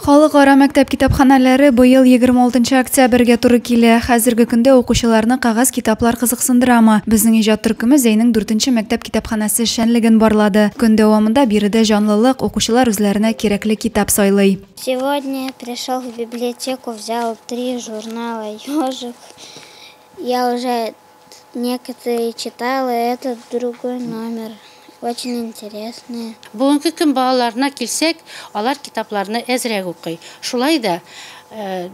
Халыкара мәктәп китапханәләре быел егерме алтынчы октябрьгә туры килә. Хәзерге көндә укучыларны кәгазь китаплар кызыксындырамы? Безнең иҗат төркеме Зәйнең дүртенче мәктәп китапханәсе эшчәнлеген барлады. Көн дәвамында биредә җанлылык, укучылар үзләренә кирәкле китап сайлый. Сегодня пришел в библиотеку, взял три журнала Ёжик. Я уже Некоторые читала этот другой номер. Очень интересные. Бүгенге көн балаларына килсәк, алар китапларны әзрәк укый. Шулай да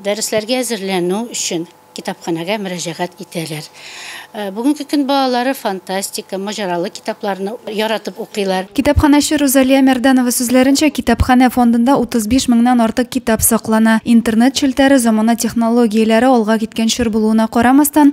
дәресләргә әзерләнү өчен китапханәгә мөрәҗәгать итәләр. Бүгенге көн балалары фантастика, маҗаралы китапларны яратып укыйлар. Китапханәче Рузалия Мәрданова сүзләренчә, китапханә фондында 35 меңнән артык китап саклана. Интернет челтәре замана технологияләре алга киткән чор булуына карамастан,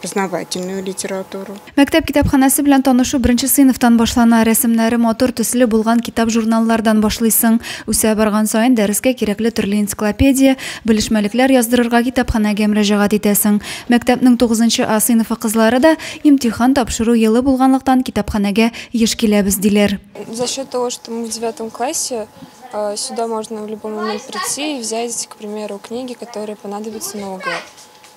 познавательную литературу. Мәктәп китапханәсе белән танышу беренче сыйныфтан башлана. Рәсемнәре матур, төсле булган китап-журналлардан башлыйсың. Үсә барган саен дәрескә кирәкле төрле энциклопедия, белешмәлекләр яздырырга китапханәгә мөрәҗәгать итәсең. Мәктәпнең тугызынчы А сыйныфы кызлары да, имтихан тапшыру елы булганлыктан, китапханәгә еш киләбез, диләр. За счет того, что мы в девятом классе, сюда можно в любой момент прийти и взять, к примеру, книги, которые понадобятся на ОГЭ.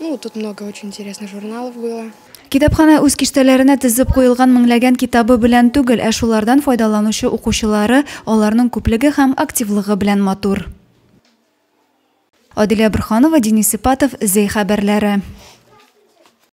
Ну, тут много очень интересных журналов было. Китапханә үз киштәләренә тезеп куелган меңләгән китабы белән түгел, ә шулардан файдаланучы укучылары, аларның күплеге һәм активлыгы белән матур. Адилә Борханова, Денис Ипатов, Зәй хәбәрләре.